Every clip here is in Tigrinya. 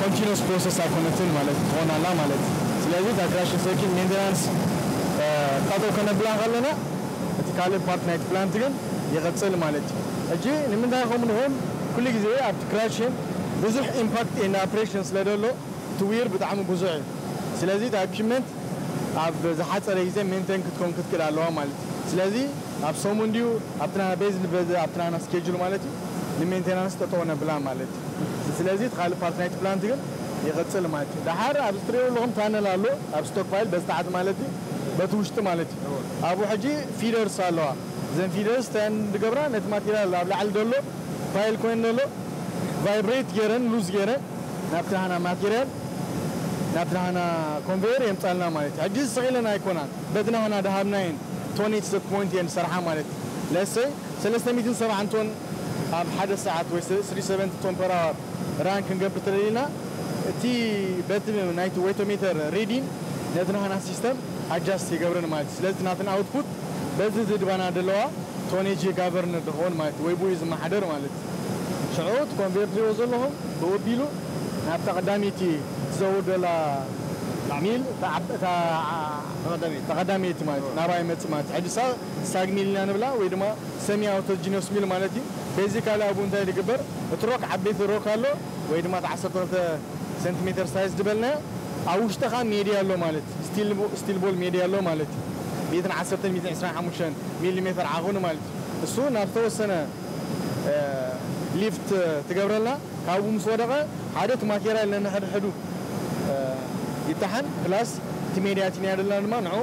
ኮንቲኑስ ፕሮሰስ ኣይኮነትን ማለት ትኾን ኣላ ማለት ስለዚ እታ ክራሽን ሰርኪት ሜንቴናንስ ጠጠው ከነብላ ከለና እቲ ካልእ ፓርት ናይቲ ፕላንት ግን ይቕጽል ማለት እዩ ሕጂ ንምንታይ ከምኡ ንብል ኩሉ ግዜ ኣብቲ ክራሽን ብዙሕ ኢምፓክት ኤንድ ኣፕሬሽን ስለ ደሎ እቲ ዊር ብጣዕሚ ብዙሕ እዩ ስለዚ እታ ኢኩፕመንት ኣብ ዝሓጸረ ግዜ ሜንቴን ክትከውን ክትክእል ኣለዋ ማለት እዩ ስለዚ ኣብ ሰሙን ድዩ ኣብቲ ናና ቤዝድ ኣብቲ ናና ስኬጁል ማለት እዩ ንሜንቴናንስ ጠጠው ነብላ ማለት ስለዚ እቲ ካልእ ፓርት ናይቲ ፕላንት ግን ይቕጽል ማለት እዩ። ደሓር ኣብዚ ትርእይዎ ኣለኹም ታነል ኣሎ ኣብ ስቶክ ፓይል በዚ ታሕቲ ማለት እዩ በቲ ውሽጢ ማለት እዩ። ኣብኡ ሕጂ ፊደርስ ኣለዋ እዘን ፊደርስ እንታይ እየን ዝገብራ ነቲ ማቴርያል ኣብ ላዕሊ ዘሎ ፓይል ኮይኑ ዘሎ ቫይብሬት ጌረን ሉዝ ጌረን ናብቲ ናህና ማቴርያል ናብቲ ናህና ኮንቨየር የምጻልና ማለት እዩ። ሕጂ እዚ ስቕ ኢለን ኣይኮናን በቲ ናህና ዝሃብናየን ቶን ኤት ስቶክ ፖይንት እየን ዝሰርሓ ማለት እዩ። ለትስ ሰይ ሰለስተ ሚእትን ሰብዓን ቶን። ኣብ ሓደ ሰዓት ወይ ስሪ ሰቨንቲ ቶን ፐር ኣወር ራን ክንገብር እንተደሊና እቲ በቲ ናይቲ ወይቶሜተር ሪዲን ነቲ ናህና ሲስተም ኣጃስት ይገብረን ማለት እዩ ስለዚ እቲ ናተን ኣውትፑት በዚ ዝድባና ደለዋ ቶኔጂ ጋቨርንድ ይኸውን ማለት እዩ ወይ ብኡ እዩ ዝመሓደር ማለት እዩ ሽዑ እቲ ኮንቬርትሪዎ ዘለኹም ብኡ ኣቢሉ ናብታ ቀዳመይቲ ትዘውር ደላ ሚል እታ ተቐዳመይቲ ማለት እዩ ናብኣ ይመጽእ ማለት እዩ ሕጂ እሳ ሳግ ሚል ኢና ንብላ ወይ ድማ ሰሚ ኣውቶጂነስ ሚል ማለት እዩ በዚካሊ ኣብኡ እንታይ ድግበር እቲ ሮክ ዓበይቲ ሮክ ኣሎ ወይ ድማ እቲ ዓሰርተ ክልተ ሰንቲሜተር ሳይዝ ድበልናዮ ኣብ ውሽጢ ከኣ ሜድያ ኣሎ ማለት እዩ ስቲል ቦል ሜድያ ኣሎ ማለት እዩ ሚእትን ዓሰርተን ሚእትን ዕስራን ሓሙሽተን ሚሊ ሜተር ዓቅኒ ማለት እዩ ንሱ ውን ናብ ዝተወሰነ ሊፍት ትገብረልና ካብኡ ምስ ወደቀ ሓደ እቲ ማቴርያል ነንሕድሕዱ ይታሓን ፕላስ እቲ ሜድያ እቲ ነያድልና ድማ ንዕኡ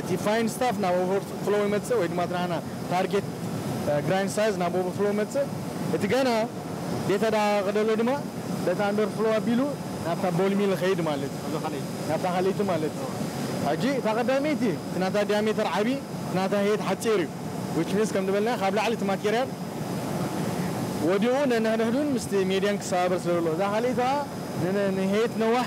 እቲ ፋይን ስታፍ ናብ ኦቨር ፍሎው ይመጽእ ወይ ድማ እቲ ናህና ታርጌት ግራይንድ ሳይዝ ናብ ኦቨር ፍሎው ይመጽእ እቲ ገና ዴታ ደኣ ከደሎ ድማ በቲ ኣንደር ፍሎው ኣቢሉ ናብታ ቦል ሚል ይኸይድ ማለት እዩ ናብታ ካልእይቲ ማለት እዩ ሕጂ እታ ቀዳመይቲ እቲ ናታ ዲያሜተር ዓቢ እቲ ናታ ሄይት ሓጺር እዩ ዊች ሚንስ ከም ዝበልናዮ ካብ ላዕሊ እቲ ማቴርያል ወዲቑ ነንሕድሕዱን ምስቲ ሜድያን ክሰባበር ስለ ዘለዎ እዛ ካልእይቲ ከኣ ንሄይት ነዋሕ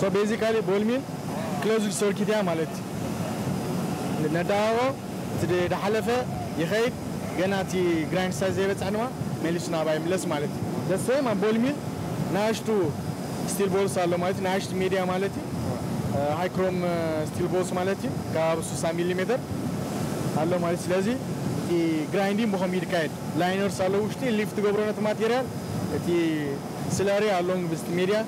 So basically ቦልሚን ክሎዝድ ሶርኪት እያ ማለት እዩ ነዳዋዎ እቲ ዳሓለፈ ይከይድ ገና እቲ ግራይንድ ሳይዝ ዘይበፀሐ ድማ መሊሱ ናብኣ ይምለስ ማለት እዩ the same ኣብ ቦልሚን ናኣሽቱ ስቲል ቦልስ ኣሎ ማለት እዩ ናኣሽቱ ሜድያ ማለት እዩ ሃይ ክሮም ስቲል ቦልስ ማለት እዩ ከባቢ ሱሳ ሚሊ ሜተር ኣሎ ማለት እዩ ስለዚ እቲ ግራይንዲን ብከምኡ እዩ ዝካየድ ላይነርስ ኣለዉ ውሽጢ ሊፍት ትገብሮ ነቲ ማቴርያል እቲ ስለሪ ኣሎንግ ብዝቲ ሜድያ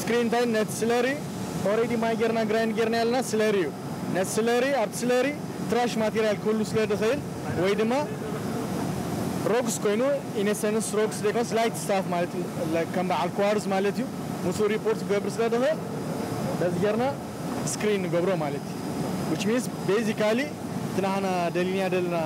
ስክሪን ታይም ነቲ ስለሪ ኦሬዲ ማይ ጌርና ግራይንድ ጌርናዮ ኣለና ስለሪ እዩ ነቲ ስለሪ ኣብቲ ስለሪ ትራሽ ማቴርያል ክህሉ ስለ ድኽእል ወይ ድማ ሮግስ ኮይኑ ኢነሰንስ ሮግስ ዘይኮነስ ላይት ስታፍ ማለት ከም በዓል ክዋርዝ ማለት እዩ ምስኡ ሪፖርት ክገብር ስለ ድኽእል በዚ ጌርና ስክሪን ንገብሮ ማለት እዩ which means basically እቲ ናህና ደሊናዮ ዘለና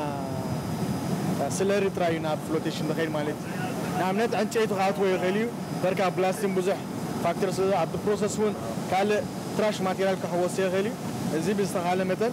ስለሪ ጥራይ እዩ ናብ ፍሎቴሽን ዝኸይድ ማለት እዩ ንኣብነት ዕንጨይቲ ክኣትዎ ይኽእል እዩ በርካ ብላስቲን ብዙሕ ፋክተር ስለ ኣብቲ ፕሮሰስ እውን ካልእ ትራሽ ማቴርያል ክሕወሶ ይኽእል እዩ እዚ ብዝተኻለ መጠን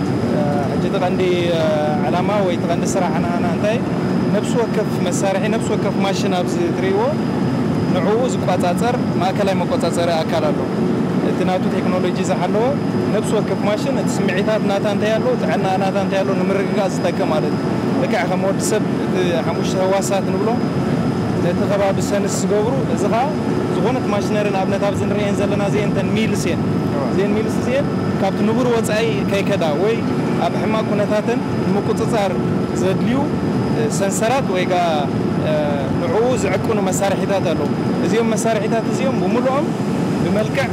ሕጂ እቲ ቀንዲ ዕላማ ወይ እቲ ቀንዲ ስራሕ ናህና እንታይ እዩ? ነብሲ ወከፍ መሳርሒ፣ ነብሲ ወከፍ ማሽን ኣብዚ ትርእይዎ ንዕኡ ዝቋጻጸር ማእከላይ መቆጻጸሪ ኣካል ኣሎ። እቲ ናቱ ቴክኖሎጂ ዝሓለወ ነብሲ ወከፍ ማሽን እቲ ስምዒታት ናታ እንታይ ኣሎ፣ ጥዕናኣ ናታ እንታይ ኣሎ ንምርግጋጽ ዝጠቅም ማለት እዩ። ልክዕ ከም ወዲ ሰብ እቲ ሓሙሽተ ህዋሳት ንብሎም ነቲ ከባቢ ሰንስ ዝገብሩ፣ እዚ ከኣ ዝኾነት ማሽነሪ ንኣብነት ኣብዚ ንርእየን ዘለና እዚኤን እተን ሚልስ እየን። እዚኤን ሚልስ እዚኤን። ካብቲ ንቡር ወጻኢ ከይከዳ ወይ ኣብ ሕማቕ ኩነታተን ንምቁጽጻር ዘድልዩ ሰንሰራት ወይ ከኣ ንዕኡ ዝዕቅኑ መሳርሒታት ኣለዉ። እዚኦም መሳርሒታት እዚኦም ብምሉኦም ብመልክዕ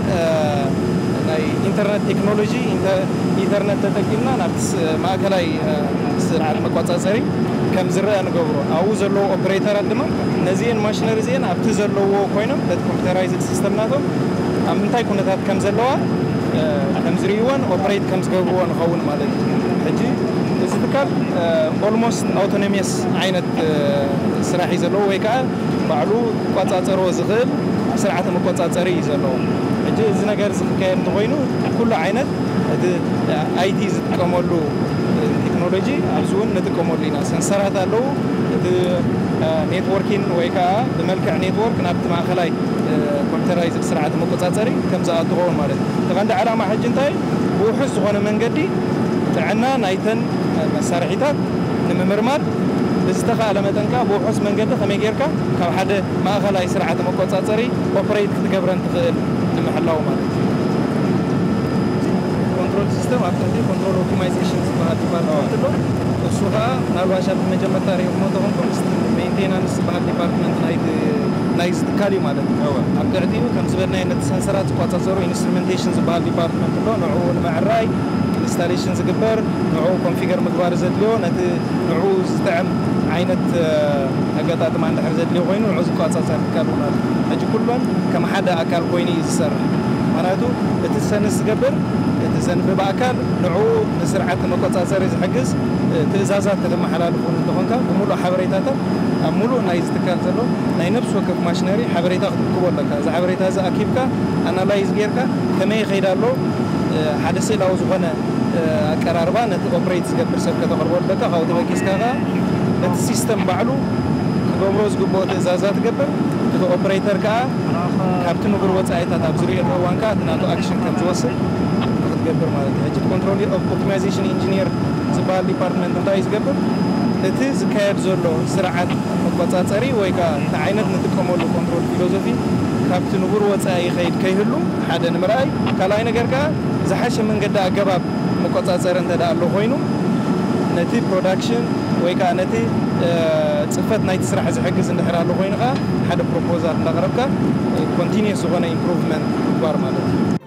ናይ ኢንተርነት ቴክኖሎጂ፣ ኢተርነት፣ ተጠቂምና ናብቲ ማእከላይ ስርዓት መቆጻጸሪ ከም ዝርኣ ንገብሮ። ኣብኡ ዘለዉ ኦፕሬተራት ድማ ነዚኤን ማሽነሪ እዚኤን ኣብቲ ዘለዉዎ ኮይኖም ነቲ ኮምፒተራይዝድ ሲስተም ናቶም ኣብ ምንታይ ኩነታት ከም ዘለዋ፣ ከምዝርእይዎን ኦፕሬት ከምዝገብርዎን ይኸውን ማለት እዩ። ሕጂ እዚ ትካል ኦልሞስት ኣውቶነሚየስ ዓይነት ስራሕ እዩ ዘለዎ ወይ ከኣ ባዕሉ ክቆጻጸሮ ዝኽእል ስርዓተ መቆጻጸሪ እዩ ዘለዎ። ሕጂ እዚ ነገር እዚ ክካየድ እንተኾይኑ ኩሉ ዓይነት እቲ ኣይቲ ዝጥቀመሉ ቴክኖሎጂ ኣብዚ እውን ንጥቀመሉ ኢና። ሰንሰራት ኣለዉ እቲ ኔትዎርኪን ወይ ከኣ ብመልክዕ ኔትዎርክ ናብቲ ማእከላይ ኮምፒተራይዝድ ስርዓተ መቆፃፀሪ ከም ዝኣ እንትኸውን ማለት እዩ። እቲ ቀንዲ ዕላማ ሕጂ እንታይ እዩ? ብውሑስ ዝኾነ መንገዲ ጥዕና ናይተን መሳርሒታት ንምምርማር ብዝተኻእለ መጠን ከኣ ብውሑስ መንገዲ ከመይ ጌርካ ካብ ሓደ ማእኸላይ ስርዓተ መቆፃፀሪ ኦፕሬይት ክትገብረን ትኽእል ንምሕላው ማለት እዩ። እቲ ኮንትሮል ሲስተም ኣብ ትሕቲ ኮንትሮል ኦፕቲማይዜሽን ዝበሃል ዲፓርትመንት ኣሎ። እሱ ከኣ ምናልባሽ ኣብ መጀመርታ ሪእኹሞ እንተኾንኩም ምስቲ ሜይንቴናንስ ዝበሃል ዲፓርትመንት ናይቲ ናይዚ ትካል እዩ ማለት እዩ። እወ፣ ኣብ ትሕቲኡ ከም ዝበልናዮ ነቲ ሰንሰራት ዝቆጻጸሩ ኢንስትሩመንቴሽን ዝበሃል ዲፓርትመንት ኣሎ፣ ንዕኡ ንምዕራይ ኢንስታሌሽን ዝግበር፣ ንዕኡ ኮንፊገር ምግባር ዘድልዮ፣ ነቲ ንዕኡ ዝጥዕም ዓይነት ኣገጣጥማ እንድሕር ዘድልዮ ኮይኑ ንዕኡ ዝቆጻጸር ትካል እውን ኣሎ። ሕጂ ኩለን ከም ሓደ ኣካል ኮይኑ እዩ ዝሰርሕ፣ ምኽንያቱ እቲ ዝሰንስ ዝገብር፣ እቲ ዘንብብ ኣካል ንዕኡ ንስርዓት ንመቆጻጸሪ ዝሕግዝ ትእዛዛት ከተመሓላልፍ እውን እንተኾንካ ብምሉእ ሓበሬታታት ኣብ ምሉእ ናይዚ ትካል ዘሎ፣ ናይ ነብሲ ወከፍ ማሽነሪ ሓበሬታ ክትእክቦ ኣለካ። እዚ ሓበሬታ እዚ ኣኪብካ ኣናላይዝ ጌርካ ከመይ ይኸይድ ኣሎ ሓደ ስእላዊ ዝኾነ ኣቀራርባ ነቲ ኦፕሬት ዝገብር ሰብ ከተቕርበሉ ኣለካ። ካብኡ ተበጊስካ ከኣ ነቲ ሲስተም ባዕሉ ክገብሮ ዝግብኦ ትእዛዛት ይገብር። እቲ ኦፕሬተር ከኣ ካብቲ ንቡር ወጻኢታት ኣብ ዝርእየሉ እዋን ከኣ እቲ ናቱ ኣክሽን ከም ዝወስድ ንኽትገብር ማለት እዩ። ሕጂ እቲ ኮንትሮል ኦፕቲማይዜሽን ኢንጂንየር ዝበሃል ዲፓርትመንት እንታይ እዩ ዝገብር? እቲ ዝካየድ ዘሎ ስርዓት፣ መቆጻጸሪ ወይ ከኣ እንታይ ዓይነት ንጥቀመሉ ኮንትሮል ፊሎዞፊ ካብቲ ንቡር ወጻኢ ይኸይድ ከይህሉ ሓደ ንምርኣይ፣ ካልኣይ ነገር ከኣ ዝሓሸ መንገዲ ኣገባብ መቆጻጸሪ እንተደኣ ኣሎ ኮይኑ ነቲ ፕሮዳክሽን ወይ ከኣ ነቲ ጽፈት ናይቲ ስራሕ ዝሕግዝ እንድሕር ኣሎ ኮይኑ ከኣ ሓደ ፕሮፖዛል እንዳቕረብካ ኮንቲንየስ ዝኾነ ኢምፕሩቭመንት ምግባር ማለት እዩ።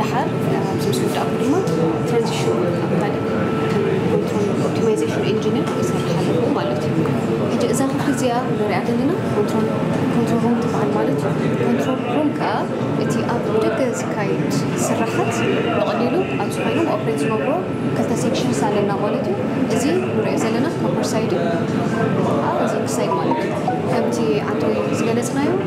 ደሓር ኣብዚ ምስ ወዳእኩ ድማ ትራንዚሽን ኣብ ካልእ ኮንትሮል ኦፕቲማይዜሽን ኢንጂነር ይሰርሕ ኣለኹ ማለት እዩ ሕጂ እዛ ክፍሊ እዚኣ ንሪኣ ዘለና ኮንትሮል ኮንትሮል ሩም ትበሃል ማለት እዩ ኮንትሮል ሩም ከዓ እቲ ኣብ ደገ ዝካየድ ስራሓት ብቐሊሉ ኣብ ዝኾይኖም ኦፕሬት ዝነብሮ ክልተ ሴክሽንስ ኣለና ማለት እዩ እዚ ንሪኦ ዘለና ኮፐር ሳይድ እዩ እዚ ክሳይድ ማለት እዩ ከምቲ ዓንተወይ ዝገለፅናዮ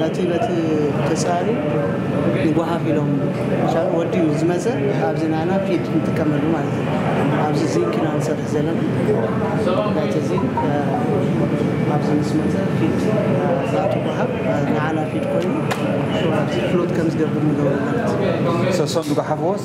ነቲ በቲ ተጻርዩ ይጓሃፍ ኢሎም ምሻሉ ወዲ ምስ ዝመጸ ኣብዚ ናና ፊድ ንጥቀመሉ ማለት እዩ ኣብዚ ዚንክ ኢና ንሰርሕ ዘለና ናይቲ ዚንክ ኣብዚ ምስ መጸ ፊድ ናቱ ጓሃፍ ንዓና ፊድ ኮይኑ ኣብዚ ፍሎት ከም ዝገብር ንገብሮ ማለት እዩ ሰሶም ዝጓሓፍዎስ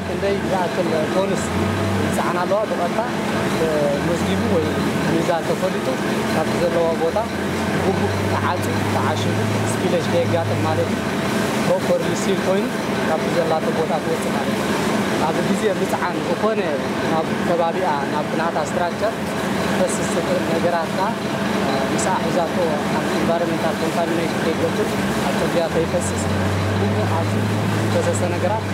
ክንደይ ዝኣክል ቶንስ ይጸዓና ኣለዋ ብቐጥታ ተመዝጊቡ ወይ ሚዛን ተፈሊጡ ካብቲ ዘለዋ ቦታ ብጉቡእ ተዓጽዩ ተዓሺጉ ስፒለጅ ከየጋጥም ማለት እዩ ፕሮፐርሊ ሲል ኮይኑ ካብቲ ዘላቶ ቦታ ክወጽእ ማለት እዩ። ኣብ ግዜ ምጽዓን ዝኾነ ናብ ከባቢኣ ናብቲ ናታ ስትራክቸር ክፈስስ ዝኽእል ነገራት ከኣ ምስኣ ሒዛቶ ኣብ ኢንቫይሮመንታል ኮንታሚነሽን ከይገብር ኣብ ጽርግያ ከይፈስስ ኩሉ ኣብዚ ዝፈሰሰ ነገራት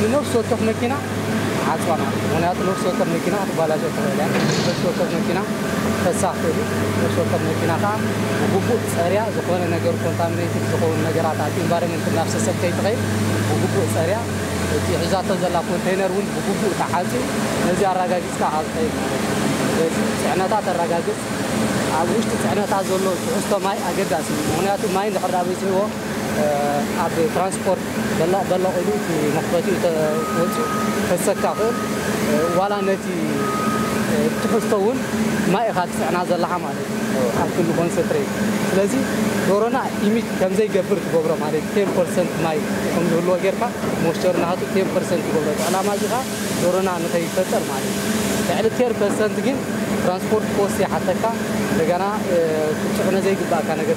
ንነፍሲ ወከፍ መኪና ዓጽዋና ምክንያቱ ነፍሲ ወከፍ መኪና ክትባላሾ ትኽእል እያ ነፍሲ ወከፍ መኪና ክፈሳ ይኽእል እዩ ነፍሲ ወከፍ መኪና ከኣ ብግቡእ ጸርያ ዝኾነ ነገር ኮንታሚነትድ ዝኸውን ነገራት ኣብቲ ኢንቫይሮመንት እናፍሰሰት ከይትኸይድ ብግቡእ ጸርያ እቲ ሒዛቶ ዘላ ኮንተይነር እውን ብግቡእ ተዓጽዩ ነዚ ኣረጋጊጽካ እኻ ዝኸይድ ማለት እዩ ስለዚ ጽዕነታ ተረጋግጽ ኣብ ውሽጢ ጽዕነታ ዘሎ ትሕዝቶ ማይ ኣገዳሲ እዩ ምክንያቱ ማይ እንድሕር ደኣ በዚሕዎ ኣብ ትራንስፖርት በላቕ በላቕ ኢሉ እቲ መኽፈቲኡ እንተ ወጺኡ ክሕሰካ ይኽእል ዋላ ነቲ ትሕዝቶ ውን ማይ ኢኻ ትጽዕና ዘለኻ ማለት እዩ ኣብ ክንዲ ኮንሰትሬት ስለዚ ዶሮና ኢሚት ከም ዘይገብር ትገብሮ ማለት እዩ ቴን ፐርሰንት ማይ ከም ዝህልዎ ጌርካ ሞይስቸሩ ናቱ ቴን ፐርሰንት ትገብሮ እቲ ዕላማ እዚ ከኣ ዶሮና ንኸይፈጠር ማለት እዩ ልዕሊ ቴር ፐርሰንት ግን ትራንስፖርት ኮስት ይሓተካ እንደገና ክትጽዕኖ ዘይግብኣካ ነገር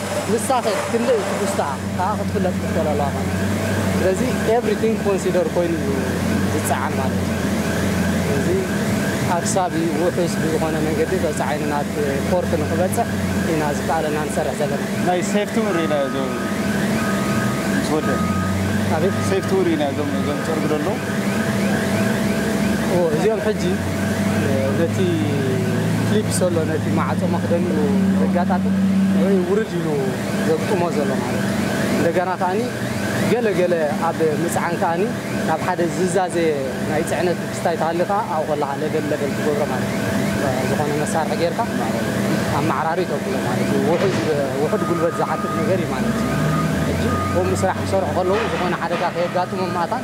ንሳኸ ክንደይ ትሕዝቶኣ ከኣ ክትፍለጥ ትኽእል ኣለዋ ማለት እዩ። ስለዚ ኤቭሪቲንግ ኮንሲደር ኮይኑ እዩ ዝጸዓን ማለት እዩ። ስለዚ ኣክሳቢ ውሑስ ብዝኾነ መንገዲ በጻሒ ናብ ፖርት ንኽበጽሕ ኢና ዝከኣለና ንሰርሕ ዘለና። ናይ ሴፍቲ እውን ርኢና እዞ ምስ ወደእ። ኣቤት። ሴፍቲ እውን ርኢና እዞም እዞም ዝጸርጉ ዘለዉ። እዎ እዚኦም ሕጂ። ነቲ ክሊፕ ሶሎ ነቲ ማዕጾ መኽደኒኡ ዘጋጣጥም ወይ ውርድ ኢሉ ዘግጥሞ ዘሎ ማለት እዩ። እንደገና ከኣ ገለ ገለ ኣብ ምጽዓን ከኣ ናብ ሓደ ዝዛዘየ ናይ ጽዕነት ብስታይ ተሃልዩ ከኣ ኣብኡ ከለኻ ለበል ለበል ትገብሮ ማለት እዩ። ዝኾነ መሳርሒ ጌርካ ኣመዓራሪ ተብሎ ማለት እዩ። ውሑዝ ውሑድ ጉልበት ዝሓትት ነገር እዩ ማለት እዩ። ሕጂ ከምኡ ስራሕ ክሰርሑ ከለዉ ዝኾነ ሓደጋ ከየጋጥሞም መታን